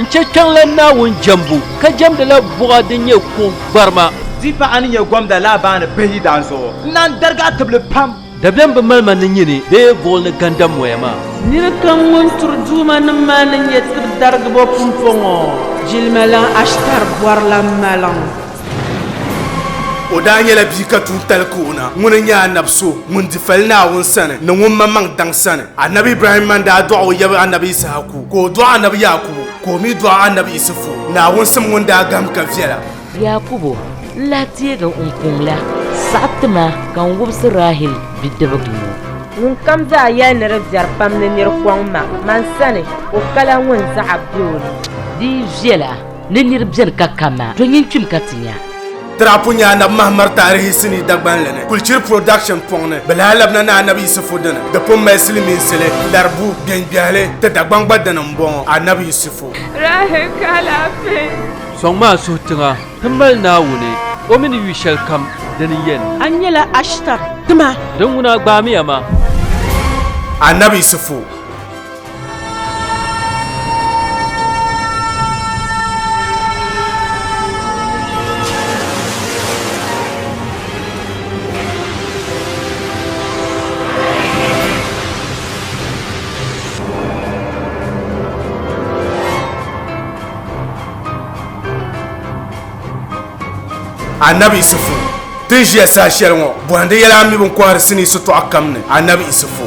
N chɛ kpiɔŋ la Naawuni jɛmbu, ka jɛmdi la buɣa din nyɛ kuɣ gbarima. Di paɣa ni nyɛ Gomda Laabani Bahi daan zuɣu, n naan darigi a tibili pam. Dabiɛm bi mali ma ni nyini bee buɣil ni ganda moya maa. Nirikam ŋun turi duumanim maa ni nyɛ tiri darigibo pumpɔŋɔ, jilima lan Ashtar bɔrila maliŋ. O daa nyɛla bia ka tuuntali ka o na. Ŋuni n-nyɛ Anab so ŋun di fali Naawuni sani ni ŋun maŋmaŋ daŋ sani. Anab Ibrahim man daa dɔɣi o yab Anab Isahaku, ka o dɔɣi Anab Yaakubu, ka o mi dɔɣi Anab Isifu. Naawuni sim ŋun daa gahim ka viɛla. Yaakubu n lahi teegi n kuŋ la saɣi ti ma ka n wubisi Rahil bidibiga ŋɔ. Ŋunkam daa yɛli ni di viɛri pam ni nir kɔŋ ma man sani, o kala ŋun zaɣa be o ni. Di viɛla. Ni nir beni ka ka ma, do nyin kpim ka ti nya. Tirahi pun nya Anabi Mahamad taarihi sinii Dagbanli ni, Kulchiri Production pɔŋ ni. Bɛ lahi labina ni Anabi Yisifu dini. Di pun mali silimiinsili, laribu, gbeŋgbehili. Ti Dagbaŋ gba dini m-bɔŋɔ, Anabi Yisifu. Rahi ka alaafee. Sɔŋ maa suhi tiŋa ti mali Naawuni, O mi ni yu shɛli kam di ni yɛn. A nyɛla Ashtar, ti ma. Di ŋuna gbaamiya ma. Anabi Yisifu. Anabi Isufu tin ʒiya saha shɛli ŋɔ bɔhindi yɛla a mi bin kɔhiri sinii sitɔɣu kam ni Anabi Isufu.